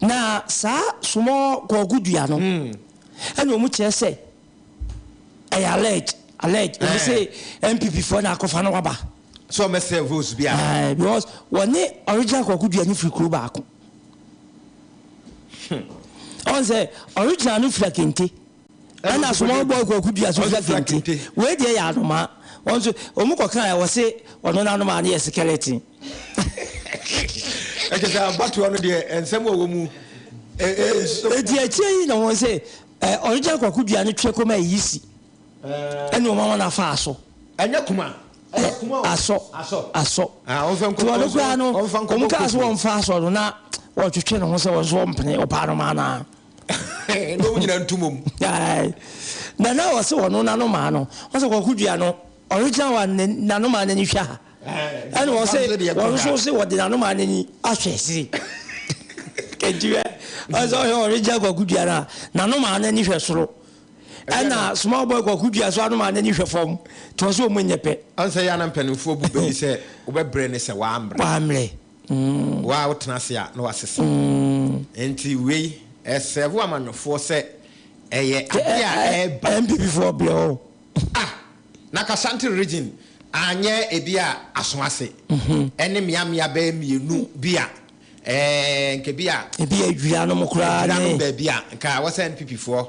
Na saa small kɔɔgo dua no ɛna wɔn kyerɛ sɛ ɛyɛ alleged alleged wɔn sɛ NPP foɔ na akɔfa no waba. So wɔn sɛ votes bi a. Ɛɛ because wɔne original kɔɔgo dua no firi kuro baako. Wɔn sɛ original no fira kente. ɛna asomɔɔ boy kwaku dua so hwɛ fente wei deɛ yɛ anomaa wɔn nso wɔn kɔ kan wɔ se ɔno n'anomaa no yɛ skeleton. ɛkyɛ sɛ abatoɔ no deɛ nsɛm wɔ wɔ mu. eti akyire yi na wɔn sɛ ɛ ɔregya kwaku dua no twɛ kɔma eyi si ɛna wɔn ama no afa so. ɛnyɛ kuma. asɔ asɔ nti ɔno koraa no wɔn kaa so wɔn fa asɔ no na wɔtwetwe ne ho sɛ wɔn nso wɔn pene ɔpaa no maa naa. na ɔmu nyina ntu mom. na na ɔse ɔno nanomaa no ɔsɛ kɔko dua no ɔregyina wa nanomaa no ani hwɛ ha ɛna ɔse ɔno nso se ɔde nanomaa no ani ahwɛ siri kɛntiwɛ ɔsɛ ɔhwɛ ɔregyina kɔko dua no a nanomaa no ani hwɛ soro ɛna small boy kɔko dua so anomaa no ani hwɛ fam nti ɔsɛ ɔmu nyɛ pɛ ɔnsɛ yɛ ana mpanimfoɔ bu bɛni sɛ wobɛbrɛ ne sɛ waambrɛ waambrɛ Wo a wotena ase a na woasesa. Enti wei, ɛsɛɛvo amanyɔfoɔ sɛ ɛyɛ adeɛ a ɛreba. NPP foɔ brɛ o. Ah! Na Kashanti region anyɛ ebi a aso ase ɛne mmea mmea bɛyɛ mmienu bi a ɛɛ nka ebi a. Ebi a adwira nom koraa ne. Adwira nom baabi a nka wɔ sɛ NPP foɔ.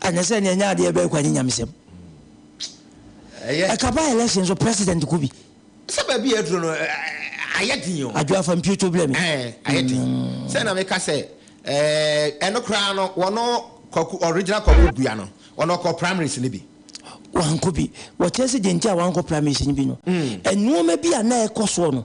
Anyɛ sɛ nea ɛnyɛ adeɛ bɛyɛ kwa nye nyamesɛm. Ɛka ba election so president ko bi. Sɛ baabi a ɛduro no ayɛ den o. Adwo afa mpiotwo blɛ me. Ɛɛ ayɛ den. Sɛ na meka sɛ ɛɛ ɛno koraa no wɔno kwaku original kwaku gua no wɔno ɔkɔ primaries no bi. Wankɔ bi. Wɔkyerɛ sɛ deɛ nti a wankɔ primaries no bi no nnoɔma bi a na ɛkɔ soɔ no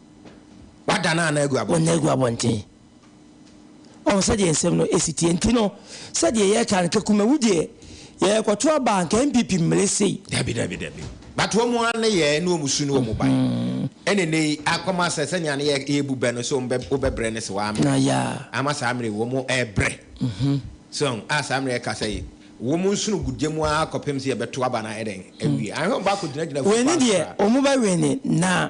W'ada no ana agu abɔnten? W'ada no agu abɔnten. Ɔho sɛdeɛ nsɛm no ɛsi teɛ nti no sɛdeɛ yɛka no kɛkuma wu deɛ yɛkɔto aba anka NPP mmere sei. Dabi dabi dabi but wɔn mu ane yɛ ne wɔn su ne wɔn ba ɛne ne yi akɔma sɛ sɛnea ne yɛ yɛ bu bɛ no so mbɛ wobɛ brɛ ne se waa mmerɛ na ya ama saa mmerɛ wɔn mu ɛbrɛ so a saa mmerɛ ɛka sɛ wɔn mu nsono gu gye mu a kɔpem se yɛbɛto aba na ɛdɛn ɛwie ahwɛ wɔn ba akɔ gyina gyina fu pa so a wɔn mu bɛ wene na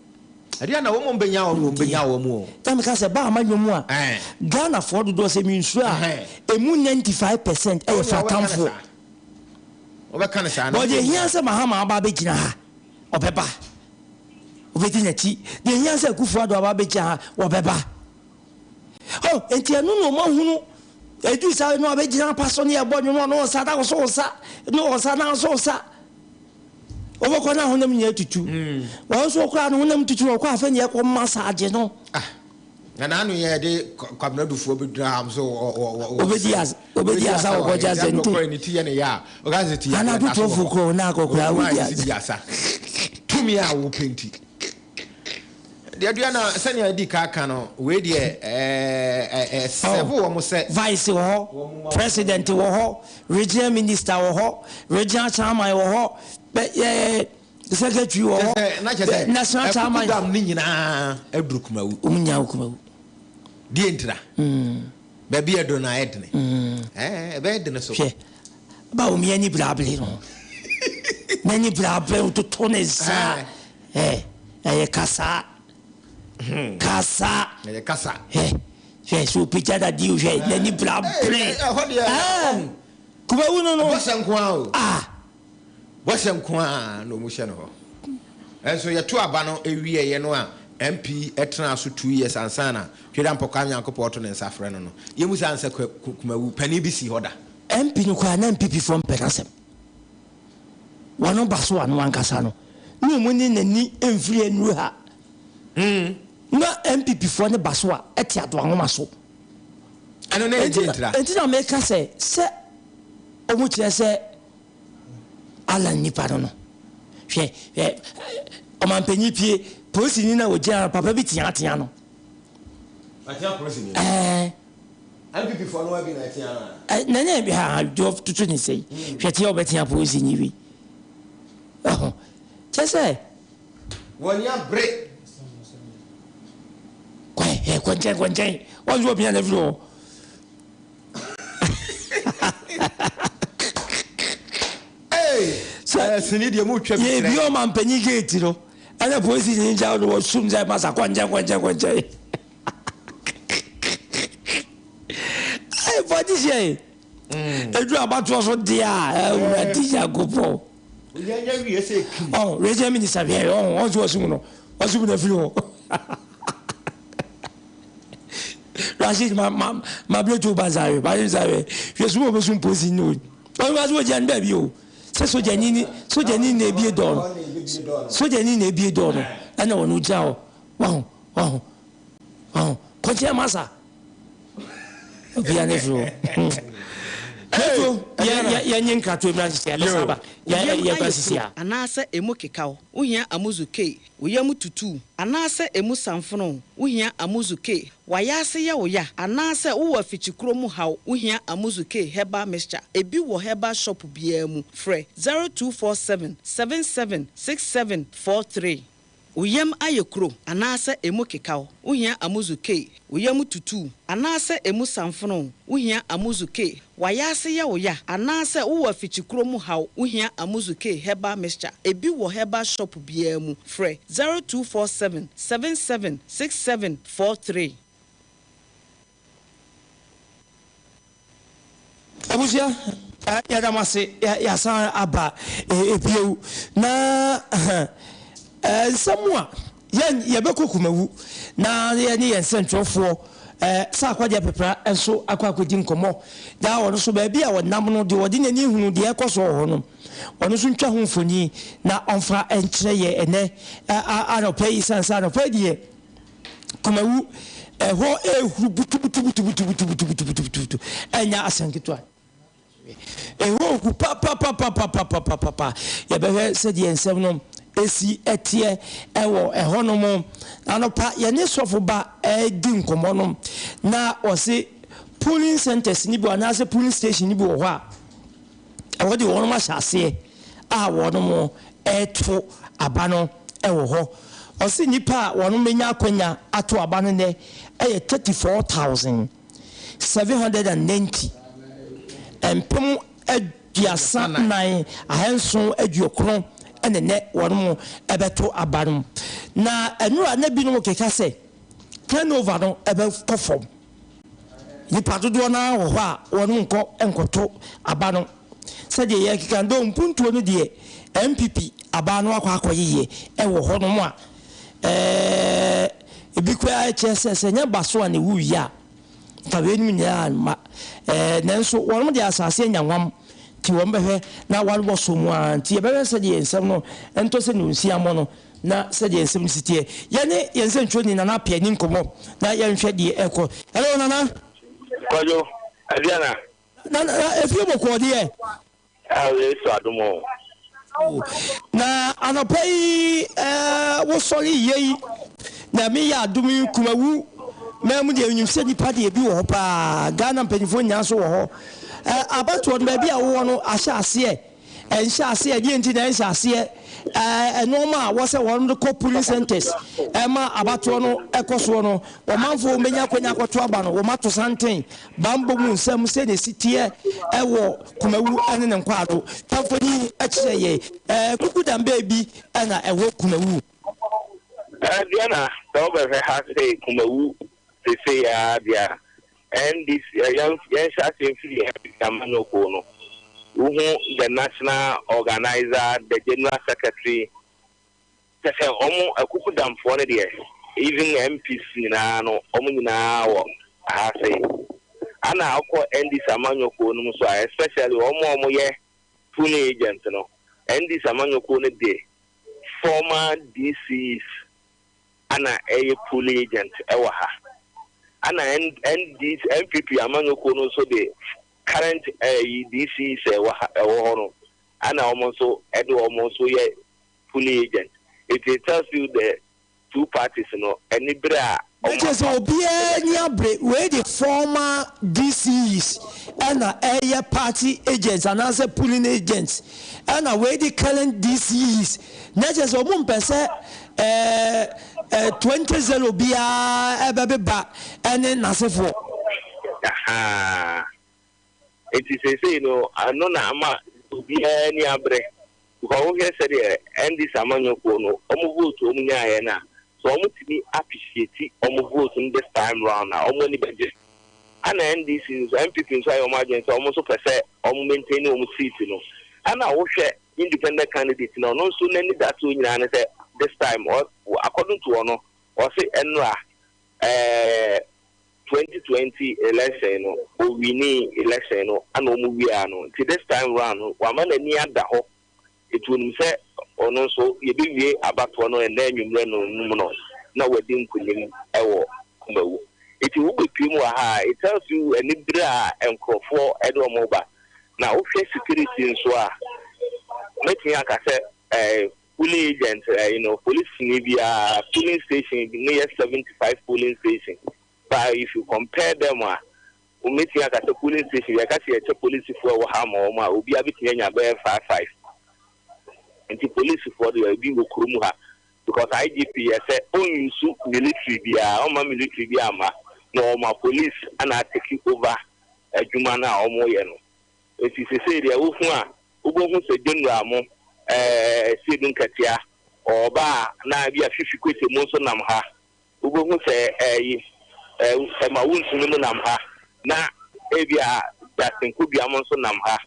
Ɛdeɛn na wɔn bɛnya wɔn wɔn bɛnya wɔn mu o. Na meka sɛ ba ama nnwom a Ghana foɔ dodoɔ sɛ mensuro a ɛmu 95 percent ɛyɛ fa atamfoɔ. Wɔbɛka no saa. But deɛ ɛhia sɛ Mahama aba abɛgyina ha ɔbɛba. Wɔbɛdi n'akyi. Deɛ ɛhia sɛ Akufo Addo aba abɛgyina ha wɔbɛba. Oh nti ɛno na wɔn ahunu ɛduru saa na wɔbɛgyina apa so ne ɛbɔ nnwom ɔno nsa na wo so nsa ne wɔn nsa na so nsa. Wobɛkɔ na honam nyinaa tutu. Wɔn nso koraa no honam tutu na wɔkɔ afei na yɛkɔ massage no. Ah, na n'ano yɛ de kwabena dufoɔ bi dura ham so wɔ wɔ wɔ. Obedi asa obedi asa wɔ kɔgye asa nti. Ɔkɔɛ ne ti yɛ ne ya a, ɔka sɛ ti yɛ adeɛ n'aso wɔ. Anadwo twelve kɔ na akɔ koraa obedi asa. Tumi a wopɛ nti. Duadua na sɛnea adi ka ka no, wei deɛ ɛsɛvo wɔ mo sɛ. Vice wɔ hɔ, President wɔ hɔ, Regional Minister wɔ hɔ, Regional Chairman wɔ hɔ, Secretary wɔ hɔ, National Chairman. Ɛkuku dam no nyinaa aduru Kumawu. Wɔn nyinaa wɔ Kumawu. Deɛ ntira. Baabi ɛdo no ayɛ dene. Ɛbɛyɛ dene so. Hwɛ, ba wɔn ani brabere no. N'ani brabere, ɔtoto ne nsa. Eh, ɛyɛ kasaa. Hmm. Kasaa. Ɛyɛ kasa. Eh, hwɛ sɛ opagya dadeɛ o, hwɛ eh. n'ani bra brɛ. Eh, ɛhɔ deɛ. Eh, kubawu no no. Bɔhyɛ nko ara o. Ah. Bɔhyɛ nko ara na wɔn hyɛ no hɔ. Ɛnso yɛto aba no ewieɛ no a MP ɛtena so two years ansa na Tweda Mpɔkwa Nyankopɔn ɔto ne nsa frɛ no no. Yɛmu saa nsa kumawu panin bi si hɔ da. MP no koraa na MPP foɔ mpɛ n'asɛm. Wɔn ba so ano ankasa no na ɔmo ne n'ani mfiri nnuru ha. Na NPP foɔ ne ba so a ɛte adoa nwoma so. Ɛno na ɛgye ntra. Enti na meka sɛ sɛ ɔmo kyerɛ sɛ Allan nnipa no no hwɛ hwɛ ɔmanpanyin pie polisini no a ɔgyina no papa bi teatea no. Ɔteɛ polisini no. Ɛɛ. NPP foɔ no adi na ɛtea no a. Ɛ na nyɛ ha ha dwo toto ne sɛi hwɛ tea ɔbɛ tea polisi ni wi ɛho kyɛ sɛ. Wɔn a bere. Kɔ ɛ ɛ kɔ nkyɛn kɔ nkyɛn wɔn nso ɔpia na firi hɔ. Ee sɛ ɛ sini deɛ mu twɛ bi kyerɛ. Yɛ bi ɔma mpanyin gate no ɛna polisi ni gya ɔno wɔ sum sɛ masa kɔ nkyɛn kɔ nkyɛn kɔ nkyɛn. Hey, for this year. Edu abatoɔ so deɛ a ɛwura di Nyankopɔn. Yɛnyɛ wie sɛ ekim. Ɔ wei sɛ minisita hwɛ ɔ ɔ nso ɔsum no ɔsum na firi hɔ. Rashid ma ma ma bile to ba nsa hwɛ ba nsa hwɛ hwɛ sum obi sum polisi ni o. Ɔno ba so ɔgyina ne baabi o. Sɛ sogyani ni sogyani na ebie dɔɔ no sogyani na ebie dɔɔ no ɛna ɔno gyina hɔ. Wahu? Wahu? Wahu? Kɔkyɛ masa. Obia ne firi o. Kɛto yɛnye nkrato mmira nsisi a bɛsa aba yɛba sisi a. Anaasɛ ɛmu kekaw, wohia Amuzu K. Wo yam tutu anaasɛ ɛmu samfono, wohia Amuzu K. W'ayaase yɛ wo ya anaasɛ wowɔ afikyikuro mu haw, wohia Amuzu K Herbal Mixture. Ɛbi wɔ herbal shop biara mu. Frɛ 0247 776743. Wo yam ayɛ kuro anaasɛ emu kekaw, wo hia Amuzu Kei. Wo yam tutuu anaasɛ emu samfonoo, wo hia Amuzu Kei. W'ayaase yɛ wo ya anaasɛ wowɔ afikyikuro mu haw, wo hia Amuzu Kei Herbal Mixture. Ebi wɔ herbal shop biara mu. Frɛ zero two four seven seven seven six seven four three. abusua yɛda mo ase yɛasan aba ebiew na nsɛm a yɛn yɛbɛkɔ kumawu na yɛne yɛn nsɛntwerɛfoɔ sɛ akwadeɛ pepra nso akɔ akɔdi nkɔmmɔ na ɔno nso baabi a ɔnam no deɛ ɔde n'ani hunu deɛ ɛkɔ so wɔ hɔ no ɔno nso ntwa ho mfoni na ɔmfa nkyerɛ yɛ ɛnɛ anɔpa yi sane sɛ anɔpa deɛ Kumawu, ɛhɔ ɛhuru butubutubutubutubutubutubutubutu, ɛnyɛ asɛm ketewa. Ɛhɔ gu papapapapapapapa. Yɛbɛhwɛ sɛdeɛ nsɛm no ɛsi ɛteɛ ɛwɔ ɛhɔ nom. Anɔpa yɛne sɔfo ba ɛredi nkɔmmɔ nom na ɔse polling centers no bi anaasɛ polling station no bi wɔ hɔ a Wɔde wɔnom ahyɛ aseɛ a wɔnom reto aba no wɔ hɔ. Ɔse nnipa a wɔnom bɛnya akwanya ato aba no nnɛ yɛ 34,790, mpem aduasa nnan, ahanson aduokron na nnɛ wɔnom bɛto aba no. Na nnora na binom keka sɛ turnover no bɛkɔ fam. Nnipa dodoɔ no ara wɔ hɔ a wɔnkɔ nkɔto aba no. Sɛdeɛ yɛrekeka no, doo mpuntuo no deɛ NPP aba no akɔ akɔyeyeɛ wɔ hɔnom a, ɛɛɛ, ebi koraa kyerɛ sɛ, sɛ ɛnyɛ baso a na ɛwu wie a, nka weinom nyinaa remma. Ɛɛɛ, nanso wɔnom deɛ asase anya hwam, nti wɔbɛhwɛ na wɔabɔ so mu ara. Nti yɛbɛhwɛ sɛdeɛ nsɛm no ntɔ sɛ nonsiammɔ no. Na sɛdeɛ nsɛm no si teɛ. Yɛne yɛn nsɛntwerɛni Nana Appiah ni nkɔmmɔ na yɛnhwɛ deɛ ɛrekɔ. Hello Nana. Kwadwo, ɛdeɛn na. Na na na efie bɔkɔɔ deɛ. Ɛɛ Yesu adom o. Oh, na anɔpa yi ɛɛ wosɔre yɛ yi. Nyame yɛ adom yi Kumawu man mu deɛ nim sɛ nipa deɛ ebi wɔ hɔ paa. Ghana mpanyinfoɔ nyinaa nso wɔ hɔ. Ɛɛ abatoɔ no baabi a wowɔ no ahyɛ aseɛ. Ɛnhyɛ aseɛ, ɛdeɛn nti na ɛnhyɛ aseɛ? Ɛɛ nnoɔma a wɔsɛ wɔn de kɔ pulling centres ɛma abatoɔ no ɛkɔ soɔ no, ɔmanfoɔ wɔn bɛnya akwanya akɔto aba no, wɔn ato santen, banbɔ mu nsɛm sɛdeɛ ɛsi teɛ ɛwɔ Kumawu ɛne ne nkwaado. Twa mfoni kyerɛ yɛn. Ɛɛ kuku dan bɛɛ bi ɛna ɛwɔ Kumawu. Ɛɛ Diana, sɛ wobɛhwɛ ha sei Kumawu sesei ara deɛ a, Ɛnde yɛnhyɛ ase mfiri NDC Amanyɔ Kuo no. Wohu the National Organiser, the General Secretary, kyerɛ sɛ wɔn akukudamfoɔ no deɛ, even MPs nyinaa no, wɔn nyinaa wɔ ha se. Ana wokɔ NDC Amanyɔ Kuo no mu nso a, especially wɔn a wɔyɛ pulling agent no, NDC Amanyɔ Kuo no de former DCs, ana ɛyɛ polling agent wɔ ha. Ana NDC, NPP amanyɔ kuo no nso de current ɛyi DC sɛ wɔ ha ɛwɔ hɔ no ana wɔn nso ɛde wɔn nso yɛ polling agent. It it tells you the two parties no ɛni bere a wɔn afa. Ɛkyerɛ sɛ obiara nni abere, wei de former DCs ɛna ɛyɛ party agents anaasɛ polling agents ɛna wei de current DCs. Na ɛkyerɛ sɛ wɔn mpɛ sɛ Ɛɛ, 20 zero biara ɛbɛbeba ɛne n'asefoɔ. Ahaa. Enti seesei no, ɛno na ama obiara ani abre. Because wohwɛ sɛdeɛ NDC amanyɔkuo no, wɔn vote wɔn nyaaeɛ no a, sɛ wɔtumi appreciate wɔn vote no this time round a, wɔn ani bɛgye. Ɛna NDC nso, NPP nso ayɛ wɔn adwene sɛ wɔn nso pɛ sɛ wɔn maintain wɔn seat no. Ɛna wohwɛ independent candidate no ɔno nso n'anidasoɔ nyinaa ne sɛ this time ɔ according to ɔno ɔse ɛnora ɛɛ twenty twenty election no owini election no ana ɔmu wiaa no nti this time round no wama n'ani ada hɔ nti onim sɛ ɔno nso yɛbɛwie abatoɔ no ɛnɛ anwummerɛ no num no na wadi nkunim ɛwɔ kumawu nti wobɛpiem wɔ ha it tells you anibere a nkurɔfoɔ ɛde ɔmo ba Na wohwɛ security nso a, mɛtumi aka sɛ ɛɛ polling agent ɛɛ you know polisini biara polling station no yɛ seventy five polling station but if you compare them a womɛtumi aka sɛ polling station yɛka sɛ yɛkyɛ polisifoɔ a ɛwɔ ha ma wɔn a obiara bɛtumi anya bɛyɛ five five nti polisifoɔ deɛ ebi wɔ kurom ha. Because IGP yɛ sɛ ɔnsu military biaa ɔmma military biaa mma na ɔma police na atake over adwuma no a ɔmo yɛ no nti sesei deɛ wohu a wobɛhu sɛ general mo ɛɛ Sedu Nkatia ɔɔba a na bia Fifi Kwesi mo nso nam ha wobɛhu sɛ ɛyi ɛma wontumi mo nam ha na ebia Justin Kobia mo nso nam ha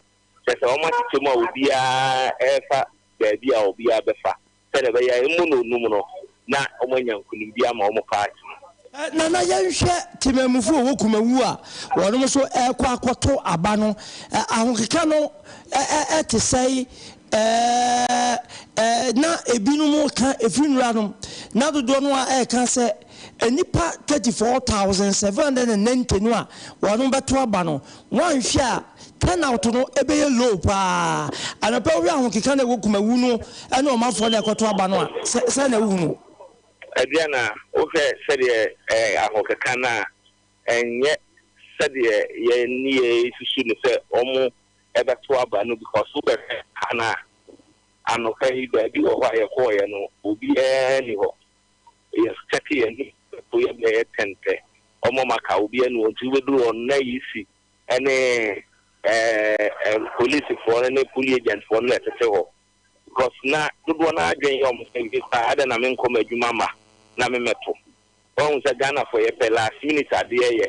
kyɛsɛ ɔmo akyekyɛ mu a obiaa ɛɛfa baabi a obiaa bɛfa. sɛnea ɛbɛyɛ a emu nnɔɔdum no na wɔanya nkonimdi ama wɔn paati no. Nana yɛnhwɛ temamufo a wɔwɔ Kumawu a wɔnom nso rekɔ akɔto aba no ahokeka no te sɛe na ebinom reka ɛfiri nnuranom na dodoɔ no ara reka sɛ nnipa 34,790 no a wɔbɛto aba no, woanhwɛ a turnout no bɛyɛ low paa. Anɔpa wohwɛ ahokeka no a ɛwɔ Kumawu no ne wɔn afoɔ no a ɛkɔto aba no a, sɛn na wohu no? Aduana, wohwɛ sɛdeɛ ahokeka no a, ɛnyɛ sɛdeɛ yɛn nneyɛeɛ susu no sɛ wɔbɛto aba no because wobɛhwɛ ha no a, anɔpa yi baabi wɔ hɔ a yɛkɔeɛ no, obiara nni hɔ. Yɛ check yɛ anim ɛpo yɛ bɛyɛ ten pɛ ɔmɔ ma ka obi ɛnu ɔnti wo bɛduru hɔ no na EC ɛne ɛɛ police foɔ no ne poli agent foɔ no na ɛtete hɔ because na dodoɔ no ara adwen yɛ ɔmɔ sɛ me paa adɛn na me nkɔ m'adwuma ma na me mɛto wahu sɛ Ghana foɔ yɛ pɛ last minute adeɛ yɛ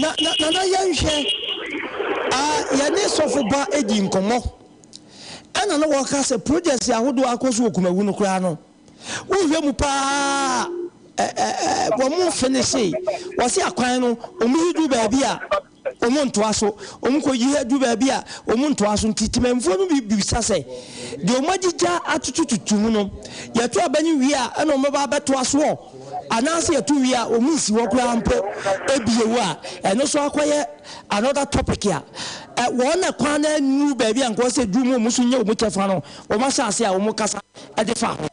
Na na na na yɛnhwɛ a yɛne sɔfo ba di nkɔmmɔ ɛna na wɔka sɛ projects ahodoɔ akɔ so wɔ Kumawu no koraa no wohwɛ mu paa ɛ ɛ ɛ wɔn finishe wɔse akwan no wɔn yi du baabi a wɔn ntoa so wɔn kɔ yi du baabi a wɔn ntoa so nti temanfoɔ no bi bisa sɛ deɛ wɔn agyigya atutututu mu no yɛto aba no wie a ɛna wɔn bɛba abɛtoa soɔ Anaase yɛto wie a wɔn nsi hɔ koraa mpo bio a, ɛno nso akɔyɛ another topic a wɔn na kwan no annuru baabi a nka wɔsɛ ɛduru mu wɔn nso nya wɔn kyɛfa no wɔn ahyɛ ase a wɔn kasa de fa ho.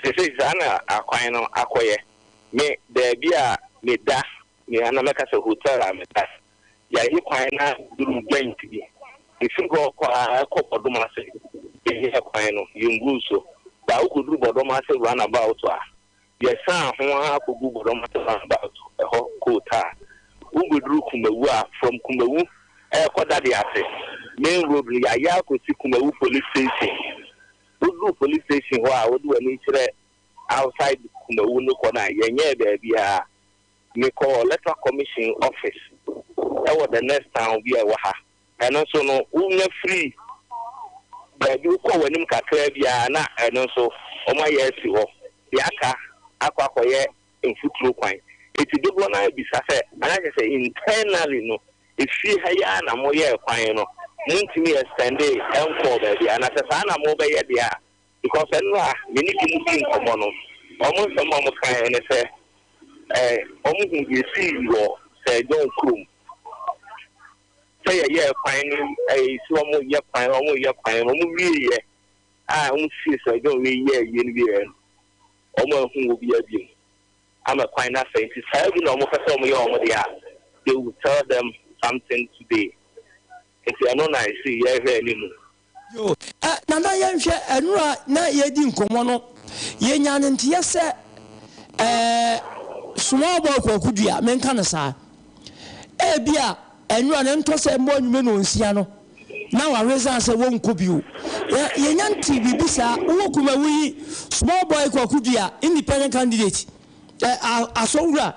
Sesei saa na akwan no akɔyɛ. Me baabi a me da, me ana mɛka sɛ hotel a me da Yɛayi kwan no aduru joint bi. Efi hɔ kɔ a ɛkɔ Bɔdom ase. Yɛyɛɛ kwan no, yenguu so baa wukodu Bɔdom ase runabout a, yɛsan ho ara kogu Bɔdom ase runabout hɔ coat a, wubeduru Kumawu a, from Kumawu rekɔ Dade ase main road no, yɛayɛ akosi Kumawu police station. Woduru police station hɔ a, wode w'ani kyerɛ outside Kumawu no kɔ no a, yɛnyɛɛ baabiara. Mekɔ Electoral Commission office wɔ the next town bi a ɛwɔ ha. Ɛno nso no, wonya firi baabi wokɔ w'anim kakra bi ara na ɛno nso wɔayɛ asi hɔ. Deɛ aka akɔ akɔyɛ mfuturo kwan. Enti dodoɔ no ara bisa sɛ, na kyerɛ sɛ internally no, efie ha yi ara na moyɛɛ kwan no, montumi extendee nkɔɔ baabiara. Na sɛ saa na mobɛyɛ deɛ a, Because ɛno a me ne binom dii nkɔmmɔ no, wɔn nsɛm a wɔkaeɛ ne sɛ, ɛɛ, wɔhuu yɛn fii wɔ Sir John kurom sɛ yɛyɛɛ kwan no, ɛɛ, si wɔn reyɛ kwan, wɔn reyɛ kwan, wɔn wieeɛ a wɔsisii Sir John wei yɛɛ yie no wieeɛ no, wɔn anhu obiara bio ama kwan no asɛe nti saa bi na wɔpɛ sɛ wɔyɛ wɔn deɛ a, they will tell them something today. Nti ɛno na ɛsii yɛrehwɛ anim. Yoo ɛ Nana yɛnhwɛ ɛnora a na yɛredi nkɔmmɔ no yɛnya no nteyɛ sɛ ɛɛ small boy Kwaku Dua menka no saa ebia ɛnora no ntɔ sɛ mmɔ anwummere nnɔnsia no na waresign sɛ wɔnkɔ bio yɛ yɛnya ntee biribi saa wowɔ Kumawu yi small boy Kwaku Dua independent candidate ɛ a Asɔnwura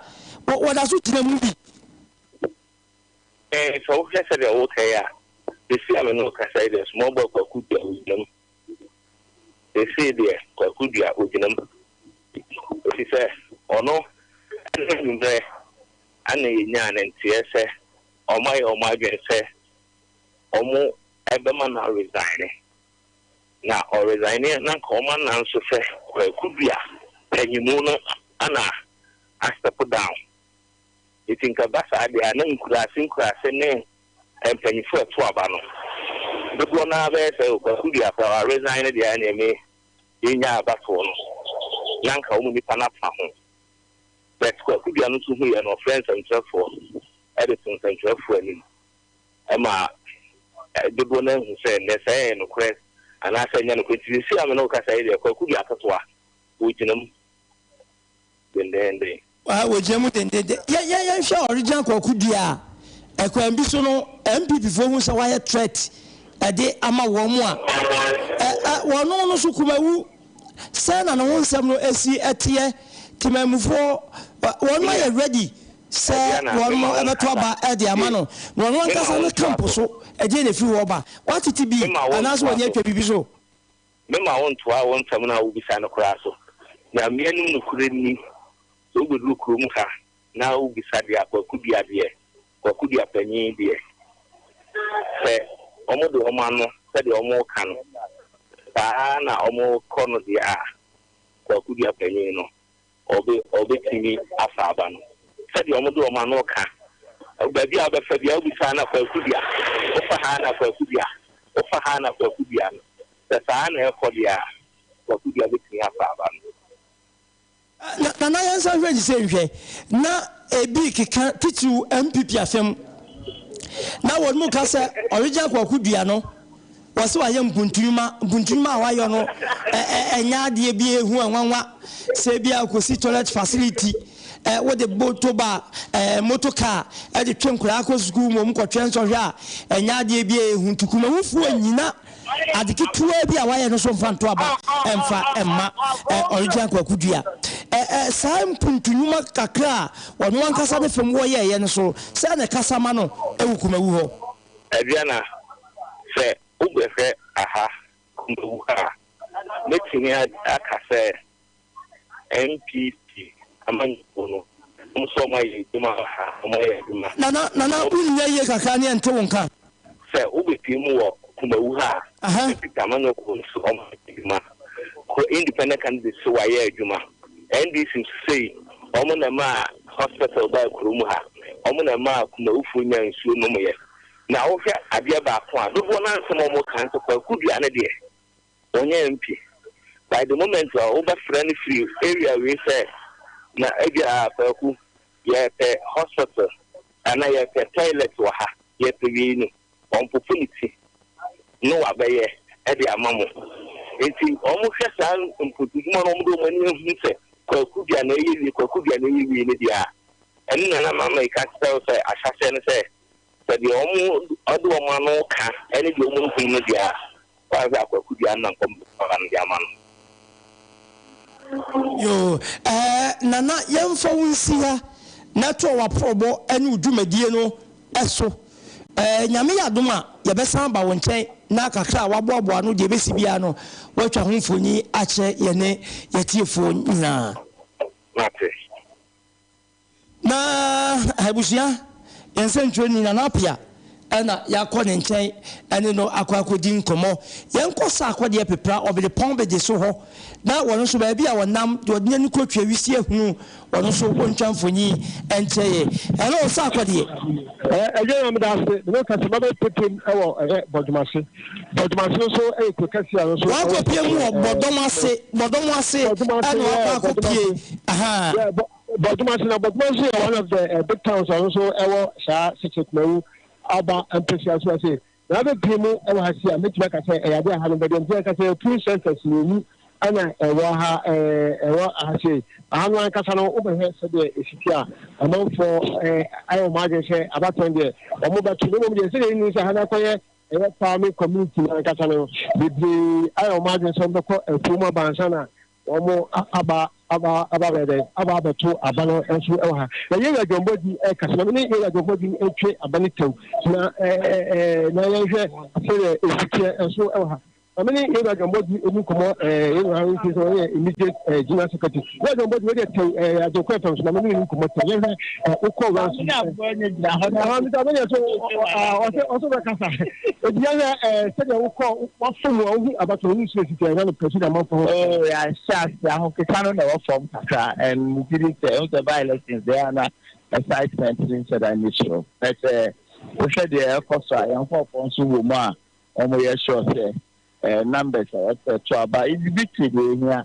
wɔ wɔda so gyina mu bi. Ɛɛ, sɛ wohwɛ sɛdeɛ woreka yi a, seesei a me ne wo kasa yi deɛ, small boy Kwaku Duah ɔgyina mu. Seesei deɛ, Kwaku Duah ɔgyina mu. Ɛfiri sɛ, ɔno ne anwummerɛ na yɛnyaa ne nteɛ sɛ wɔayɛ wɔn adwene sɛ wɔbɛma no aresign. Na ɔresign a, na anka wɔanna nso sɛ Kwaku Duah panyinmu no na a step down. Enti nka ɛba saa deɛ a, na nkuraase nkuraase ne mpanyinfoɔ a ɛto aba no dodoɔ no ara bɛyɛ sɛ Kwaku Duape a wa resign no deɛ a ɛneɛ me me nyaa abatoɔ no na nka wɔn nipa no afa ho. But Kwaku Dua no nso huiɛ no ɔfrɛɛ nsɛmtwerɛfoɔ de too nsɛmtwerɛfoɔ anim ma dodoɔ no ara hu sɛ nɛ sɛ ɛyɛ nokorɛ anaasɛ ɛnyɛ nokorɛ. Nti seesei a me ne wo kasa yi deɛ Kwaku Dua ketewa ɔgyina mu. dendeenden. Aah wɔgyina mu dendeenden. Yɛ yɛ yɛnhwɛ Original Kwaku Duah a, ɛkwan bi so no NPP foɔ hu sɛ wayɛ threat ɛde ama wɔn a ɛ ɛ wɔn no nso Kumawu sɛn na ne ho nsɛm no ɛsi ɛteɛ? Temanmufoɔ ɛ wɔn no ayɛ ready sɛ wɔn no ɛbɛto aba ɛde ama no na wɔn ankasa ne camp so ɛdeɛ na ɛfiri hɔ ba? Watete bi anaasɛ wɔn ani atwa biribi so? Mema wo ntoa wo nsɛm no a wobisa no koraa so. Nyame anim nokorɛ nni, sɛ wobɛduru kuro mu ha na wobisa deɛ Kwaku Dua deɛ, Kwaku Dua panin deɛ, sɛ wɔde wɔn ano sɛdeɛ wɔreka no, saa ara na wɔkɔ no deɛ a, Kwaku Dua panin no, Wɔbe, wɔbetumi afa aba no. Sɛdeɛ wɔde wɔn ano ka. Baabi a wobɛfa biara, wobisa na Kwaku dua, wofa ha na Kwaku dua, wofa ha na Kwaku dua no, sɛ saa ara na ɛrekɔ deɛ a, Kwaku dua betumi afa aba no. Na, Nana yɛnsan nhwɛ ne sei nhwɛ, na ebi keka titiriw MPP asɛm, na wɔn mu ka sɛ, Original Kwaku dua no, Wɔse wayɛ mpuntunwuma, mpuntunwuma a wayɔ no ɛnyɛ adeɛ bi a ɛhu a nwanwa, sɛ ebia ɔkɔsi toilet facility, wode motor ba, motor car de twe nkwadaa kɔ sukuu mmom kɔtwɛ nsɔhwɛ a ɛnyɛ adeɛ bi a ɛhu nti kumahufoɔ nnyina ade ketewaa bi a wayɛ no so mfa nto aba mfa mma Original Kwaku Dua saa mpuntunwuma kakra a ɔno ankasa ne fam wɔyɛeɛ no so sɛ na ɛkasa ma no wɔ kumawu hɔ. Adriana, Sɛ wobɛhwɛ aha mmamu ha a, mɛtumi aka sɛ NPP amanyɔkuo no, wɔn nso wɔayɛ adwuma wɔ ha, wɔayɛ adwuma. Nana, Nana, wonnya yie kakra ne yɛnte wo nka. Sɛ wobɛpue mu wɔ Kumawu ha a, NPP amanyɔkuo no nso wɔayɛ adwuma. kɔ independent candidates so wayɛ adwuma. NDC nso sei wɔn na ɛmaa hospital baa kuro mu ha, wɔn na ɛmaa Kumawufoɔ nyaa nsuo nomeɛ. Na wohwɛ adeɛ baako a, dodoɔ no ara nsɛm a wɔka nso Kwaku Duane deɛ ɔnyɛ MP. By the moment a wobɛfrɛ no firi area wei sɛ na ebia Kwaku yɛpɛ hospital anaa yɛpɛ toilet wɔ ha, yɛpɛ wei no, wɔpopo ne ti no wabɛyɛ de ama mo. Enti wɔhwɛ saa mpotudwuma no, wɔde wɔn ani ahu sɛ kwaku dua na ɛyɛ wie, kwaku dua na ɛyɛ wie no deɛ a, ɛno na na Mama yi ka kyerɛ wo sɛ ahyɛaseɛ no sɛ, sɛ deɛ wɔde wɔn ano ka ne deɛ wɔhunu no deɛ a, Ɔkae sɛ, Akwaku dua no na nkɔm de kɔɔ ha no de ama no. Yoo, ɛɛ, Nana, yɛmfa wo nsi ha na toa w'aporɔbɔ ne wo dwumadie no so. Ɛɛ, Nyame yɛ adom a, yɛbɛsan aba wo nkyɛn na kakra a woaboaboa ano de abɛsi biara no, woatwa ho mfoni akyerɛ yɛne yɛn atiefoɔ nyinaa. Mate. Na abusua nsɛntwerɛni Nana Appiah na yɛakɔ ne nkyɛn ne no akɔ akɔdi nkɔmmɔ. Yɛnkɔ sa akɔ deɛ pepra Ɔbedepɔn bede so hɔ na wɔn nso baabi a wɔnam de wɔde n'ani kɔtwa wisie hunu wɔn nso wɔntwa mfoni nkyerɛ yɛn. Hello Sarkodie. Ɛyɛyɛ meda ase mene wo kasa mabɛ pepem ɛwɔ ɛyɛ bɔdwomase bɔdwomase nso ɛyɛ kuro kɛse a nso wakɔ pie mu wɔ bɔdɔm ase bɔdɔm ase ɛna wakɔ akɔ pie aha Borɔdwoma ase na Borɔdwoma nso yɛ one of the uh, big towns ɔno nso ɛwɔ saa Sikye Kumawu aba mpɛsia so ase na abɛ pii mu ɛwɔ ha si a mɛtumi aka sɛ ɛyɛ adeɛ aha no bɛdeɛ nti ɛka sɛ two centers mmienu ɛna ɛwɔ ha ɛwɔ aha sei aha no ankasa no wobɛhwɛ sɛdeɛ ɛsiti a amanfoɔ ayɛ wɔn adwene sɛ abatɛn deɛ wɔn bɛto no mmom deɛ sɛdeɛ ɛnu sɛ ha no akɔyɛ ɛyɛ farming community no ankasa no bebree ayɛ wɔn adwene sɛ wɔbɛkɔ afuo mu abansa na Wɔaba aba aba abɛyɛ dɛn? Aba abɛto aba no nso wɔ ha. Na yɛn wura dwɔnbɔdi ɛka sɛ, na me ne yɛn wura dwɔnbɔdi ntwe aba no tɛw. Na ɛɛ ɛɛ na yɛnhwɛ sɛdeɛ ɛsi teɛ nso wɔ ha. Na me ne yɛn wura dwɔnbɔdi ɛdi nkɔmmɔ ɛɛ yɛn wura nso sɛ ɔyɛ immediate ɛɛ general secretary. Wura dwɔnbɔdi wei deɛ tɛw ɛɛ Agyenkwa FM so na me ne no nkɔmmɔ tɛw. Yɛnhwɛ wokɔ wura so na mita bɛyɛ so ɔsɛ ɔsɛ bɛkasa ebia yɛ sɛdeɛ wokɔ wafam a wohu abatɔ wohu so asisi ɛna no pɛsi na mafɔ ho yɛahyɛ ase ahokeka no na ɛwɔ fam kakra ɛntiri sɛ ɛhu sɛ by elections deɛ ana excitement ne nhyɛ da nni soro na sɛ wohwɛ deɛ ɛkɔ so a yɛnkɔɔfoɔ nso wɔ mu a wɔyɛ sure sɛ numbers a wɔpɛ to aba ebi bi te deɛ ɛhia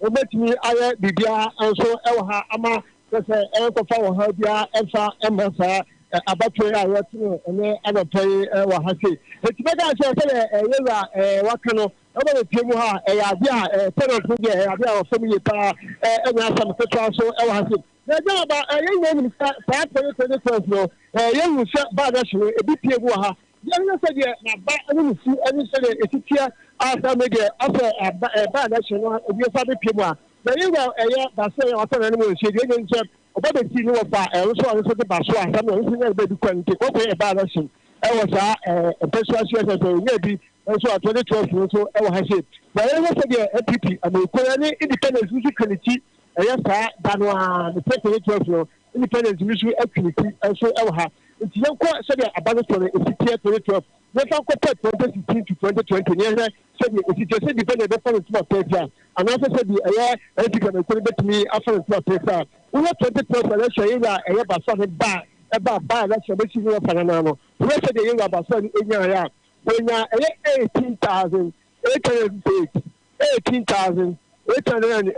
Wobetumi ayɛ biribiara nso wɔ ha ama kyerɛ sɛ ɛrenkɔfa ɔhaw biara mfa mma saa abatoɔ yi a yɛtene ɛnɛ anɔpa yi wɔ ha sei. Enti mɛka akyerɛ sɛdeɛ yɛwura waka no, ɛwɔ yɛ fie mu ha, ɛyɛ adeɛ a tenant no deɛ ɛyɛ adeɛ a wɔfam yie paa, ɛnyɛ asɛm ketewa nso wɔ ha sei. Na agya na ba, yɛn nyinaa nim sɛ saa 2020 Christmas no, yɛhu sɛ baa no ahye no, ebi pie mu wɔ ha, Yɛhwɛ sɛdeɛ n'aba ne ne su ne sɛdeɛ ɛsi teɛ ansa me deɛ asɛ ɛba ɛba na ɛhyɛ no ebi ɛsa bɛpie mu a na yɛ wura ɛyɛ baso yɛ wasa na ne mu nhyɛ deɛ ɛnyɛ nkyɛ ɔba bɛsi ne wɔfa ɛnso ɔno nso de baso asɛm na ɔnso nyɛ bɛbi kwan nti kɔkɔ yɛ ɛba na ɛhyɛ ɛwɔ saa mpɛsua so ɛsɛ sɛ ɔnyɛ bi nso a 2012 nso ɛwɔ ha sei na yɛhwɛ sɛdeɛ ɛpipi amɛkura ne independence nso twɛ ne ti ɛyɛ saa da no a ne sɛ 2012 no Independence no so atwi ne ti nso wɔ ha. Nti yɛnkɔ sɛdeɛ aba no soɔ no ɛsi teɛ 2012. Yɛmfa nkɔ pɛ 2016 to 2020 na yɛnhwɛ sɛdeɛ ɛsi teɛ, sɛ Independence bɛfa no ntom apeefea anaasɛ sɛdeɛ ɛyɛ NPP amanyɔkuo no bɛtumi afa no ntom apeefea. Wohwɛ 2012 election yɛwura a ɛyɛ Basoa no ba a ɛbaa by election bɛsi ne wɔfa no anaa no, wohwɛ sɛdeɛ yɛwura Basoa no nyaeɛ a, wɔnyaa ɛyɛ 18,808. Eighteen thousand eight hundred and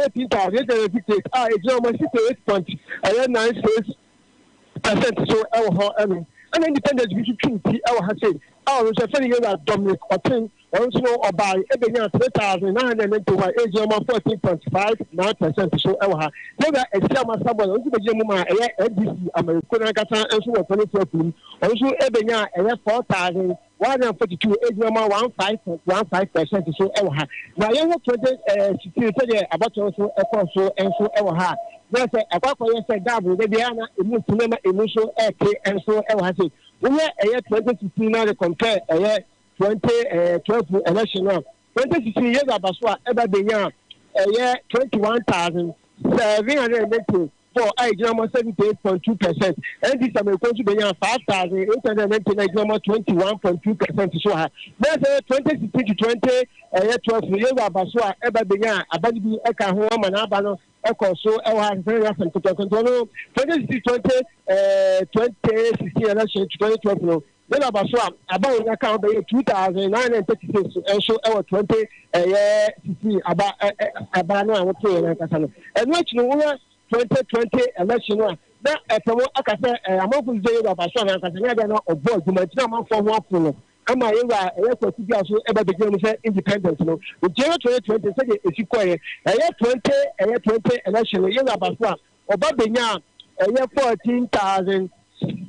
eighteen thousand eight hundred and fifty eight a egyina wɔn sixty eight point ɛyɛ nine six percent so ɛwɔ hɔ ɛno ɛna independent bi nso twum ti ɛwɔ ha sei a ɔno nso ɛfɛ no yɛwura Dominic Ɔten ɔno nso no ɔbaa ɛbɛnya three thousand nine hundred and ninety one egyina wɔn fourteen point five nine percent so ɛwɔ ha yɛwura ɛsi ama sábà ɔno nso bɛgyina mu ma ɛyɛ NDC amanifo n'ankasa nso wɔ pɔlitifoɔ funu ɔno nso ɛbɛnya ɛyɛ four thousand Wanya mfa tutu adwuma mu a, one five one five percent so wɔ ha. Na yɛn ho twenty sixteen sɛdeɛ abatoɔ no so kɔɔ so nso wɔ ha. Na sɛ ɛkɔ akɔyɛ sɛ dab da biara na emu nti na ma emu nso ɛte nso wɔ ha sɛ wohwɛ ɛyɛ twenty sixteen na de compare ɛyɛ twenty twelve election no a Wɔde sisii Yesu abaso a ɛba benya a ɛyɛ twenty one thousand seven hundred and ninety four a egyina mɔ seventy eight point two percent. Ɛnti Sameiko nso benyaa five thousand eight hundred and ninety na egyina mɔ twenty one point two percent so ha. Na sɛ ɛyɛ twenty sixteen to twenty ɛyɛ twelve no Yesu abaso a ɛba benya a aba no bi ɛka ho ama n'aba no ɛkɔ so ɛwɔ ha sɛsɛ ɛyɛ asɛm ketewa nti ɔno twenty sixteen twenty ɛɛ twenty sixteen ɛna hyɛ to twenty twelve no Dɛn na aba so a aba a yenya ka ho bɛyɛ two thousand nine hundred and thirty six nso wɔ twenty ɛyɛ sixteen aba aba no a wɔte yɛn ankasa no? Ɛno akyi no, wohwɛ twenty twenty election no a, na ɛpɛ mo aka sɛ ɛɛ amanfo sɛ yɛwura aba so anankasa ne adeɛ na ɔbɔ adwuma nti na amanfo ho afo no ama yɛwura a ɛyɛ kwasi bi a so ɛba bɛgyina mu sɛ independent no nti ɛyɛ twenty twenty sɛdeɛ ɛsi kɔɛ ɛyɛ twenty ɛyɛ twenty election no yɛwura aba so a Ɔba benyaa ɔyɛ fourteen thousand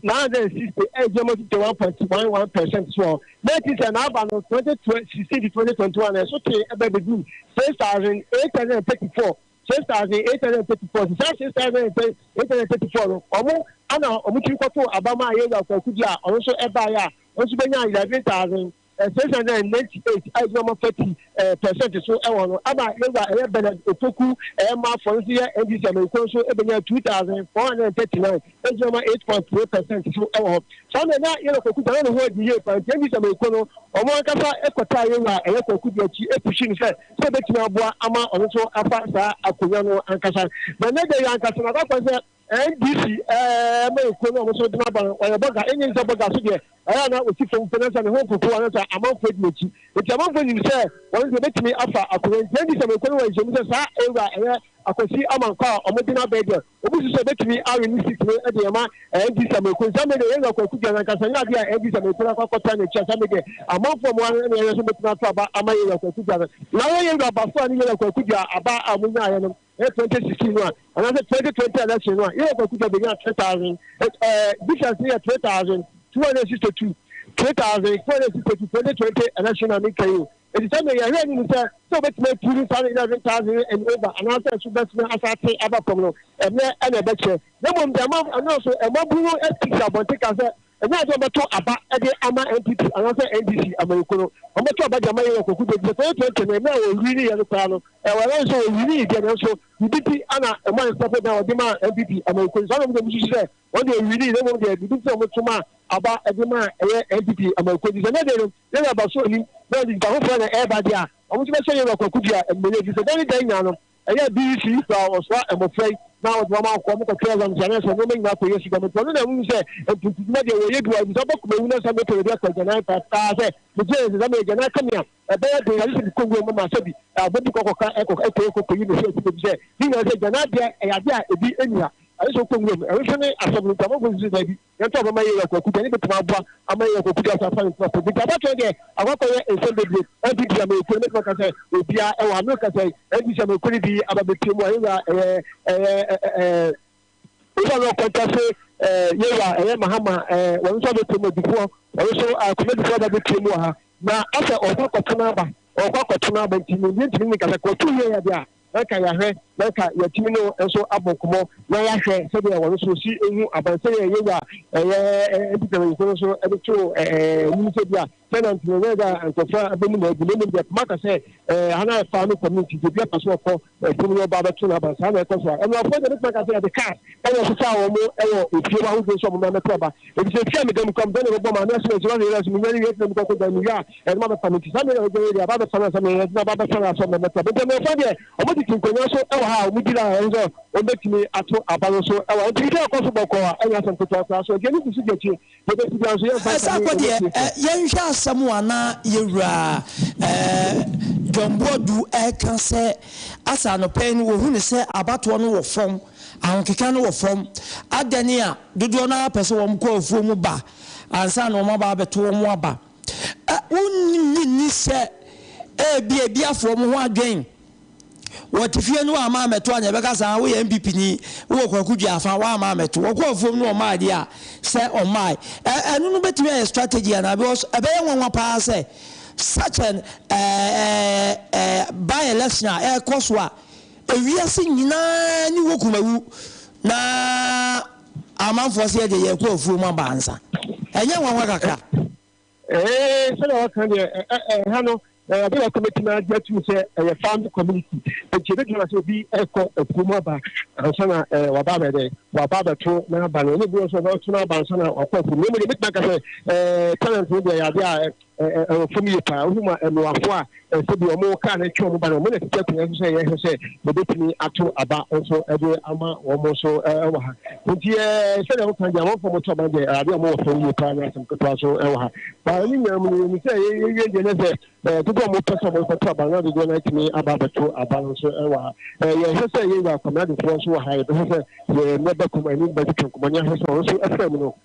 nine hundred and sixty eight yɛ mo tete one point one one percent soɔ na ɛte sɛ n'aba no twenty twenty sixteen to twenty twenty one ɛso tee ɛbɛ bɛduru six thousand eight hundred and thirty four six thousand eight hundred and thirty four te saa six thousand eight hundred and thirty four no ɔmo ana ɔmo tiri kɔto abama a yɛwura kwaku bi a ɔno nso ɛbaeɛ a ɔno nso bɛnya eleven thousand Esiane sɛ na 98 a egyina ɔmamfa ti pɛsɛnte so wɔ hɔ no ama Yehowa ɛyɛ Bernard Opoku mma afɔre no nso yɛ NDC amanyɔkuo no nso bɛnya 2,439 egyina ɔma 8.3 pɛsɛnte so wɔ hɔ. Saa mmerɛ na Yero Kwaku Gyamah ne ho adi yie paa nti NDC amanyɔkuo no wɔn ankasa kɔtaa Yehowa ɛyɛ Kwaku de akyi pushii no sɛ sɛ obetumi aboa ama ɔno nso afa saa akonwa no ankasa. Na ɛnnɛ da yi ankasa no akɔ akɔyɛ sɛ NDC ɛɛɛ ma ekuo no a ɔmo nso gyina ban ɔyɛ bɔga enye nsɛ bɔga so deɛ ɔyɛ a na ɔsi fam mpo na nsa ne ho mpopo a na nsa amanfoɔ di n'akyi nti amanfoɔ nim sɛ wɔn nso ebetumi afa akonwa nti NDC ma ekuo no wɔ nhyiamu sɛ saa ewura ɛyɛ akwasi amankwa a ɔmo gyina bɛɛ deɛ obi susu sɛ ebetumi awe ne seat no ɛde ɛma NDC ama ekuo nti saa mmerɛ deɛ yɛn wura kwaku duane ankasa nyɛ adeɛ a NDC ama ekuo no akɔ akɔtra n'akyi a saa mmerɛ deɛ amanfoɔ a ɔmo wɔ ha no ɛna yɛn nso betumi ato aba ama yɛn wura kwaku duane na wɔn yɛn wura basoa ne yɛn wura kwaku dua aba a ɔmo nyaaeɛ no Ɛyɛ twenty sixteen no a anaasɛ twenty twenty election no a yɛyɛ kwakuta bɛnya three thousand difference no yɛ three thousand two hundred and sixty two three thousand two hundred and sixty two twenty twenty election a meka yi o ɛti sɛ meyɛ hwɛ anim sɛ sɛ wobɛtumi atu no saa no eleven thousand and over anaasɛ ɛso bɛsena asate aba fam no ɛnɛ ɛna ɛbɛkyɛ na mmom deɛ ama ɛno so ɛmabunu ɛti sɛ abɔnte ka sɛ Ɛnyɛ ade a wɔbɛto aba de ama NPP anaasɛ NDC amanyɔkuo no. Wɔbɛto aba de ama yɛn wɔ Kwaku Duah Duah. 2020 no, mmerɛ a wɔwiniiɛ no koraa no, ɛwɔ ɛwɔ sɛ wɔwinii deɛ nanso biribi nti na ɛmaa nsɛmfo dan a wɔde maa NPP amanyɔkuo no saa na wɔn deɛ wɔsusu sɛ wɔn deɛ wɔwinii na mmom deɛ biribi nti na wɔto maa aba de maa ɛyɛ NPP amanyɔkuo nti sɛ ɛnɛ deɛ no yɛn wura Baso anim na ɛde nnipa foforɔ na ɛreba deɛ a, wɔn nso bɛhyɛ yɛn wura Kwaku Duah animuonyam ɛfiri sɛ dan ne dan nyinaa no Ɛyɛɛ BC so a wɔsoaa mmofra yi na wɔde wɔn akɔ, wɔkɔtwɛɛ wɔn nkyɛn sɛ nneɛma nyinaa kɔ Yesu dɛm. Enti ɔno na ahu sɛ mpontudwuma deɛ wɔyɛ bi wɔ hɔ, efisɛ ɔbɔ koma wu na sɛ mepɛ baabi akɔ agyanan krataa sɛ megye nse sɛ meregyanan ka me a, ɛbɛyɛ den agye sɛ mekɔ nwura mu ma sɛbi agbo bi kɔkɔka ɛkɔ ɛkɔ ɛkɔ kɔyi me hwɛ akyire efisɛ ne nyinaa sɛ agyanan deɛ ɛyɛ adeɛ a ebi nni ha, agye sɛ wokɔ nwura mu. Ɛno nso ne asɛm no, nti amanfoɔ nso sɛ daabi. Hɛn so wɔbɛma yɛeyi akwakuw dze, hɛn bɔtɔm aboa ama yɛeyi akwakuw dze ahyɛ asɔr ntsena fadze. Ntsi abatow nye dɛ, akɔakɔ yɛ nsɛm beberee. Hɛn so dua ma yekun, mɛtse makã dɛ obiara wɔ ha, merekã sɛ hɛn dze dua ma yekun dze aba bepia mu a, yɛwura ɛyɛ ɛyɛ Owura Lɔɔ Kwantase, yɛwura ɛyɛ Mahama, wɔn so abepia mu, Adufoɔ, wɔn so Kwame Adufoɔ aba bepia mu wɔ ha, na asɛ ɔrekɔ akɔtena aba, ɔrekɔ akɔtena aba, ntsi ndze nntsi menye no nnkasa, kɔ tum yɛ yɛ adze a. Ɛka yɛahwɛ na ɛka yɛatumi ne wɔn nso abɔ nkɔmmɔ na yɛahwɛ sɛdeɛ wɔn nso si hu aban sɛdeɛ Yehowa a ɛyɛ mpipɛmanyinfo no nso de too anim sɛ bi a sɛ na ntoma nyɛ dɛ a nkurɔfoɔ a abɛmu na agu na mmom deɛ poma ka sɛ ha na ɛfa no community deɛ bi apa so ɔkɔ ɛfunu no ɔba abɛto no aban saa na ɛkɔ so a ɛnoafoɔ deɛ bɛtuma ka sɛ yɛde kaa ɛna ɛsesaa wɔn wɔ efie hɔ ahodoɔ nso a wɔn na mɛto aba Efisɛ efi a meda mu kura me dɔ na ɛbɛbɔ m'ano ase wɔ nsuwa nwera so, minyan wie tena mu kɔkɔ dan mu wie a, ɛde ma mɛfa mu. Enti saa mmere yi a yɛagyan yi deɛ, aba abɛfa no ansa na yɛde no aba abɛfa no asɔre na ɛmmɛtra. Bempɔnamfoɔ deɛ, wɔtete nkonnwa so wɔ ha a wɔgyina a ɛsɛ sɛ wɔbɛtumi ato aba no so wɔ ha. Enti biribiara kɔ so bɔkɔɔ a, ɛnyɛ asɛm ketewa koraa. So ɛdeɛ no si so di akyire? Deɛ ɛbɛsi biara nso, yɛmfa nkame wɔn atiefoɔ. Yɛnhwɛ asɛm a na yɛn Wura John Boadu reka sɛ, Asa anɔpa yi no, wɔhu no sɛ abatoɔ no wɔ fam. ahokeka no wɔ fam. Adɛn ne a dodoɔ no ara pɛ sɛ wɔkɔ afuo mu ba ansa na wɔaba abɛto wɔn aba? Ɛ, wonnye nni sɛ ebia ebi afa wɔn ho adwene? Wɔte fie no wɔamma ammɛto a, nea ɛbɛka saa, woyɛ NPP ni, wowɔ Kwaku Duah afa, woamma ammɛto. Wɔkɔɔ afuom na wɔmmaeɛ deɛ a, sɛ wɔmmaeɛ. Ɛ, ɛno no bɛtumi ayɛ strategy anaa? Because ɛbɛyɛ nwanwa pa ara sɛ such an, ɛɛ, ɛɛ, ɛɛ, by-election a ɛrekɔ so a, Ewiase nyinaa ani wɔ kumawu na amanfoɔ se yɛdeɛ yɛrekɔ afuo mu aba ansa. Ɛnyɛ nwanwa kakra? Ee, sɛdeɛ wɔka no deɛ, ɛ, ɛ, ɛha no, ɛ, ade baako mɛtumi agye atum sɛ ɛyɛ farm community. Nti ɛbɛtumi ama sɛ obi rekɔ afuo mu aba ansa na ɛ, waba abɛyɛ dɛ, waba abɛto n'aba no. Ɛna ebi wɔ so a, ɔbɛto n'aba ansa na wakɔ afuo mu. Na mmom deɛ mɛtumi aka sɛ, ɛ, tenant no deɛ ɛyɛ adeɛ a ɛwɔ fam yie paa. Wohu ma mmoafoɔ a ɛsɛ bi a wɔn kar no twe wɔn ba no, wɔn na ɛsisi akonnwa nso sɛ yɛhwɛ sɛ yɛbɛtumi ato aba nso de ama wɔn nso wɔ ha. Nti sɛdeɛ woka deɛ amanfoɔ wɔto aba deɛ adeɛ a wɔwɔ fam yie paa nyɛ asɛm ketewa nso wɔ ha. Ba ne nyinaa mu no yɛnim sɛ yɛwie deɛ ne sɛ dodoɔ a wɔpɛ sɛ wɔkɔto aba no dodoɔ no atumi aba abɛto aba no nso wɔ ha. Yɛhwɛ sɛ yɛwura kwameadefoɔ nso wɔ ha, yɛbɛhwɛ sɛ yɛmmɛ bɛkɔm anim bɛtwetwe nkɔmmɔ ne ahwɛ sɛ wɔn nso afra mu no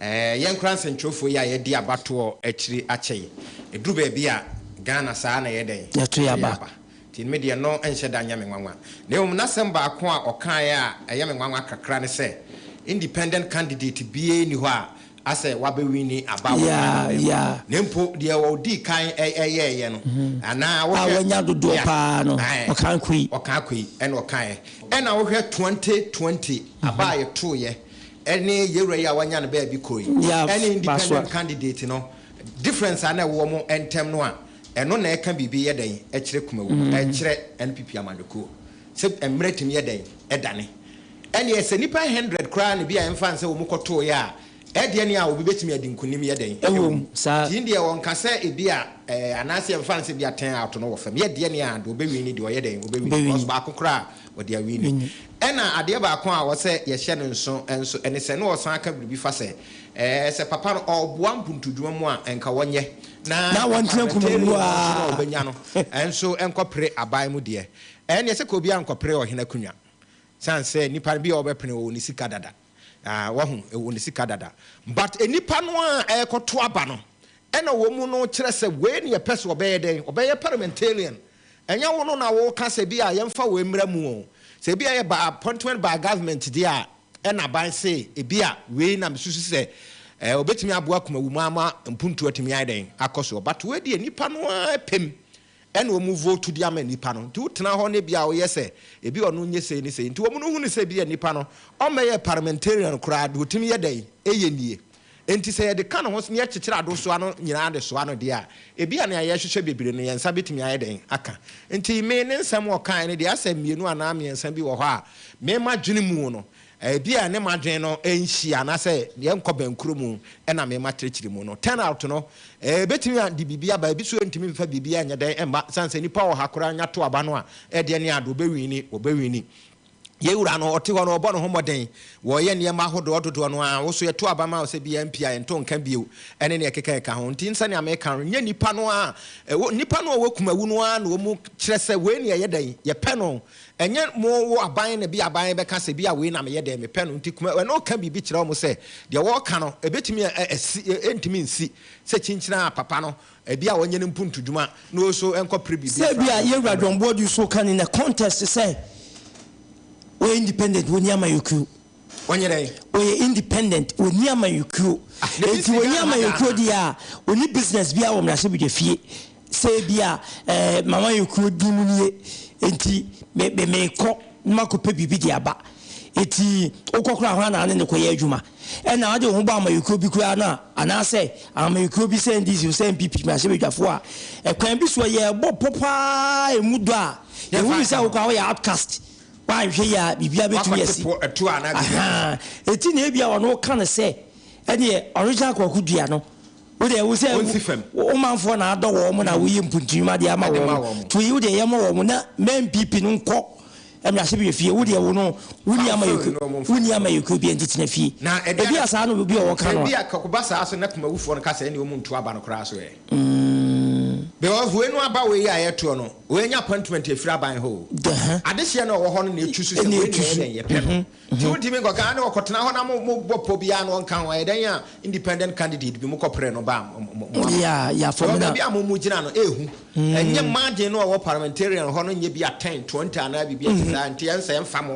Ɛɛ, yɛn koraa nsɛntwerɛfoɔ yi a yɛadi abatoɔ akyiri akyɛ yi, ɛduru baabi a, Ghana saa ara na ɛyɛ dɛn? Yɛto yɛn aba. Nti me deɛ ɛno nhyɛ da nyɛ me nwanwa. Na mmom n'asɛm baako a ɔkaeɛ a ɛyɛ me nwanwa kakra ne sɛ, independent candidate biara nni hɔ a asɛ wabɛwini aba wɔ Ghana mma mu, na mpo deɛ ɔdii kan yɛeɛ no, anaa wohwɛ, a wanya dodoɔ pa ara no, ɔkaa Akoyi. Ɔkaa Akoyi na ɔkaeɛ. Ɛna wohwɛ twenty twenty aba a yɛtoeɛ, ɛne yewura yi a wanya ne baabi kɔ yi ɛne independent candidate no difference a na ɛwɔ wɔn ntɛm no a ɛno na ɛka biribi yɛ dɛn ɛkyerɛ Kumawu no mm. ɛkyerɛ NPP amanyɔkuo sɛ mmerɛ tumi yɛ dɛn ɛdane ɛneɛ sɛ nipa hundred koraa na bi a ɛmfa nsɛ wɔn kɔtoo yɛ a ɛdeɛ ne a obi bɛtumi adi nkunim yɛ dɛn ɛwɔ mu tii deɛ wɔn ka sɛ ebi a ɛɛ anaasɛ ɛmfa nsɛ bi a ten out no wɔ fam yɛ deɛ ne a deɛ ɔbɛwi ne deɛ ɔyɛ dɛn ɔbɛwi because baako koraa wɔde awie no. Ɛnna adeɛ baako a ɔwɔ sɛ yɛhyɛ no nso nso ne sɛ na ɔsan ka biribi fa sɛ, ɛɛ, sɛ papa no ɔreboa mpuntudwuma mu a, ɛnka wɔnyɛ, na parliamentarian no nso na ɔbɛnya no nso nkɔpere aban mu deɛ. Ɛnneɛ sɛ ka obiara nkɔpere ɔhene akonnwa, sane sɛ nnipa no bi a wɔbɛpene wɔ wɔn sika dada. Ah, wahu, ɛwɔ ne sika dada. But nnipa no a ɛrekɔto aba no, ɛna wɔn mu no kyerɛ sɛ wei na yɛpɛ sɛ ɔbɛyɛ dɛn? Ɔbɛyɛ parliamentarian. Ɛnyɛ wo no na woreka sɛ bi a yɛmfa wei mmra mu o. Sɛ ebi a ɛyɛ by appointment by government deɛ a, ɛna aban se ebi a wei na mesusu sɛ eh, ɔbɛtumi aboa Kumawuma ama mpuntuo atumi ayɛ dɛn? Akɔ soɔ. But wei deɛ nnipa no ara pem ɛna ɔmu vote de ama nipa no nti wotena hɔ ne bia woyɛ sɛ ebi ɔno nyɛ sei ne sei nti ɔmu no hunu sɛ bia nipa no ɔmmɛyɛ parliamentarian koraa deɛ ɔtumi yɛ dɛn ɛyɛ nie nti sɛ yɛde ka ne ho ne yɛkyekyere adosoa no nyinaa de soa no deɛ a ebia nea yɛhwehwɛ bebree no yɛnsa bɛtumi ayɛ dɛn aka nti me ne nsɛm ɔkaeɛ no deɛ asɛm mmienu anaa mmiɛnsa bi wɔ hɔ a me madwene mu no Ebia ne m'adwene no nhyia anaasɛ yɛnkɔ bɛnkoro mu na me mma kyerɛkyerɛ mu no. Turnout no, ebetumi ade biribi aba. Ebi nso yɛrentumi mfa biribiara nyɛ dɛn mma esiane sɛ nnipa wɔ ha koraa anya to aba no a, ɛdeɛn ne ade, wɔbɛwini, wɔbɛwini. Yɛn Wura no, ɔte hɔ no, ɔbɔ ne ho mmɔden, ɔyɛ nneɛma ahodoɔ dodoɔ no ara. Wo nso yɛto aba ma wo sɛ biara mpi a yɛnto nka bio ne nea ɛkeka ɛka ho. Nti sɛnea meka no, nyɛ nnipa no ara, nnipa no a wɔakum awu no ara na wɔkyerɛ sɛ wei na yɛyɛ dɛn, yɛpɛ no. Ɛnyɛ mo wo aban na bi aban bɛka sɛ bi a wei na meyɛ dɛn mepɛ no nti kuma w'ano ka biribi kyerɛ wɔn sɛ deɛ wɔreka no ɛbɛtumi a asi ɛntumi nsi sɛ kyinkyini a papa no ɛbi a ɔnyɛ no mpuntudwuma na ɔso ɛnkɔ pere biribi afra Sɛbia yɛn wura John Boadu nso ka no in a context sɛ wɔyɛ independent wɔnni amayɔkuo. Ɔnyɛ dɛn? Ɔyɛ independent, ɔnni amanyɔkuo. Ah, na ɛfiri Enti sɛ ɔnni Ghana ha amanyɔkuo Ghana. deɛ a, ɔnni business biara wɔ mmarahyɛbadwafie sɛ ebi a eh, m'amanyɔkuo din mu nie, enti me, me, mekɔ na makɔpɛ biribi de aba. Enti wokɔ koraa a, hwan na wo ne no kɔyɛ adwuma? Ɛnna wode wo ho bɔ amanyɔkuo bi koraa no a, anaasɛ amanyɔkuo bi sɛ NDC o, sɛ NPP mmarahyɛbadwafoɔ a, ɛkwan bi soɔ yɛrebɔ pɔ paa a ɛmu dɔ a, Yɛmfa yɛhu no nka sɛ wo ho. koraa woyɛ outcast. Wanhwɛ yie a biribiara bɛtumi asi. Wakɔte po ɛtoɔ a na deɛ ɛsi. Ɛti na ebia ɔno woka no sɛ ɛdeɛ original kwaku dua no wo deɛ wo sɛ wo manfoɔ na adɔ wɔn na woyɛ mpuntunwuma adeɛ ama wɔn. To yi wo deɛ yɛmmɔ wɔn na mɛ NPP no nkɔ mmarahyɛbadwa fie wo deɛ wo no wonni ama yɛkuo wonni ama yɛkuo bia nti tena fie. Ebia saa no obi a ɔwɔ ka no a. Ebia kwaku ba saa so na kumawufoɔ no ka sɛ ɛne wɔn ntu aba no koraa so ɛ. mm. Deɛ ɔhue no aba wei a yɛtoɔ no, wei nya appointment ɛfiri aban hɔ o. Dɛhɛ. Adehyeɛ na ɔwɔ hɔ no na ɛtu so sɛ Ɛna wei na ɛtu ɛyɛ so. dɛn yɛpɛ no. Mhm, Nti mhm. wontumi nkɔka a ne wɔkɔtena hɔ na mo mo bɔ pɔ biara no ɔnka ho, ɛyɛ dɛn a independent candidate bi mokɔ pere no ba a mo mo mo ama. Yeah, yeah, for me Because na. baabi a mo mo gyina no ɛɛhu. Ɛnyɛ Mm. margin no a ɔwɔ parliamentarian hɔ no nyɛ bi a 10, 20 anaa biribi a ɛte Mhm. saa nti ɛnsɛ ɛmfa mo.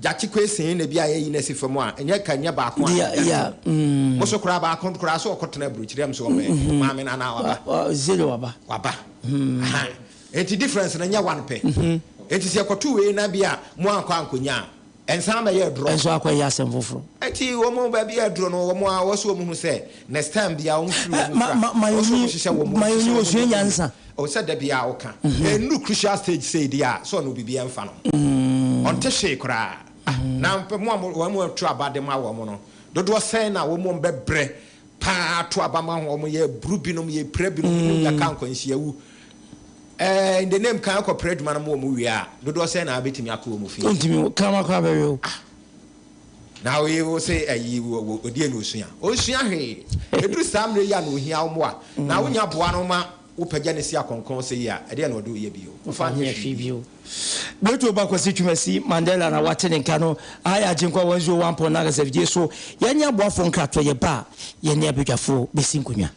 Gyakye Kwesee na bi a yɛyi no asi fam a, ɛnyɛ ka nyɛ baako a ɛda so. Mo so koraa baako koraa sɛ ɔkɔtena aburokyiri a, ɛm sɛ ɔbɛn maame no anaa waba? Zero waba. Waba. Aha. Enti difference no nyɛ one pɛ. Enti sɛ yɛkɔto wei na bi a mo ankɔ ankɔnya a, ɛnsan mmɛyɛ aduro? Ɛnso akɔyɛ asɛm foforo. Enti wɔn baabi a aduro no, wɔn a wɔsɛ wɔn hu sɛ Next time biaa wɔn firi wɔn mu fra ɔsɛ wɔn hyehyɛ wɔn mu hyehyɛ wɔn mu wɔn mu ɔsɛ da biaa wo ka ɛnuru crucial stage sei deɛ a sɛ ɔno bibiaa mfa no ho ɔnte hwee koraa ah na mo a wɔn mu to aba de ma wɔn no dodoɔ sɛn na wɔn mu bɛ brɛ paa to aba ma ho wɔn yɛ buru binom yɛ pira binom binom yɛ ka nkwanhyia wu ɛɛ in the name kan akɔ pira adwuma no mo wɔn wie a dodoɔ sɛn na abɛtumi akɔ wɔn fi. ɔntumi kama kɔ abɛwɛ o. ah. Na wo yere wo se ayi odie na osua? Onsua hwee. Eduru saa mmerɛ yi a na ohia wo mmoa, na wonya boa no ma wo pagya no si akɔnkɔn sɛ yi a, ɛdeɛn na ɔde wo yɛ bio? Womfa nyɛ hwee bio. Berto ba Kwasi Twumasi Mandela na wate ne nka no aha yɛ Agyenkwa 101.9 SFJ so yɛnyɛ aboafoɔ nkratoɔ yɛba a yɛne abadwafoɔ bɛsi nkonnwa.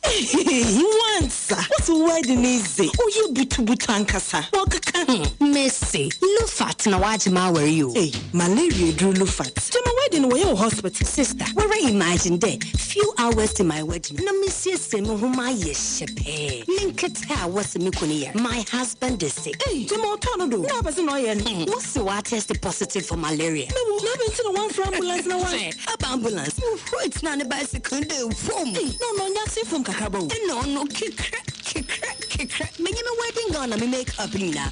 Ehehe wansa wo so wedding no dze ɔyɛ butubutu ankasa wɔkeka ho. Mese Lufat na wagye m'awar yi o. Ei malaria eduru Lufat gyama wedding no wɔyɛ wɔ hospital. Sister wara imagine dɛ few hours to my wedding na mesiesie moho mayɛ hyɛ pɛɛ menketse. pɛ a wɔse me kunu yɛ no, my husband is sick. Ei! Nti ma ɔtɔ no do na ɔpɛ se na ɔyɛ no. Hmmm wose woatɛste positive for malaria? Mewɔ. Na adɛn nti na woamfrɛ ambulance na woan. Hwɛ, aba ambulance no hɔ a ogyinaa ne bicycle no do fom. Ei! Na ɔno ɔnyɛ asen fom kakraba o. Nna ɔno kekrɛ, kekrɛ, kekrɛ. Menye me wedding gown na me make up nyinaa.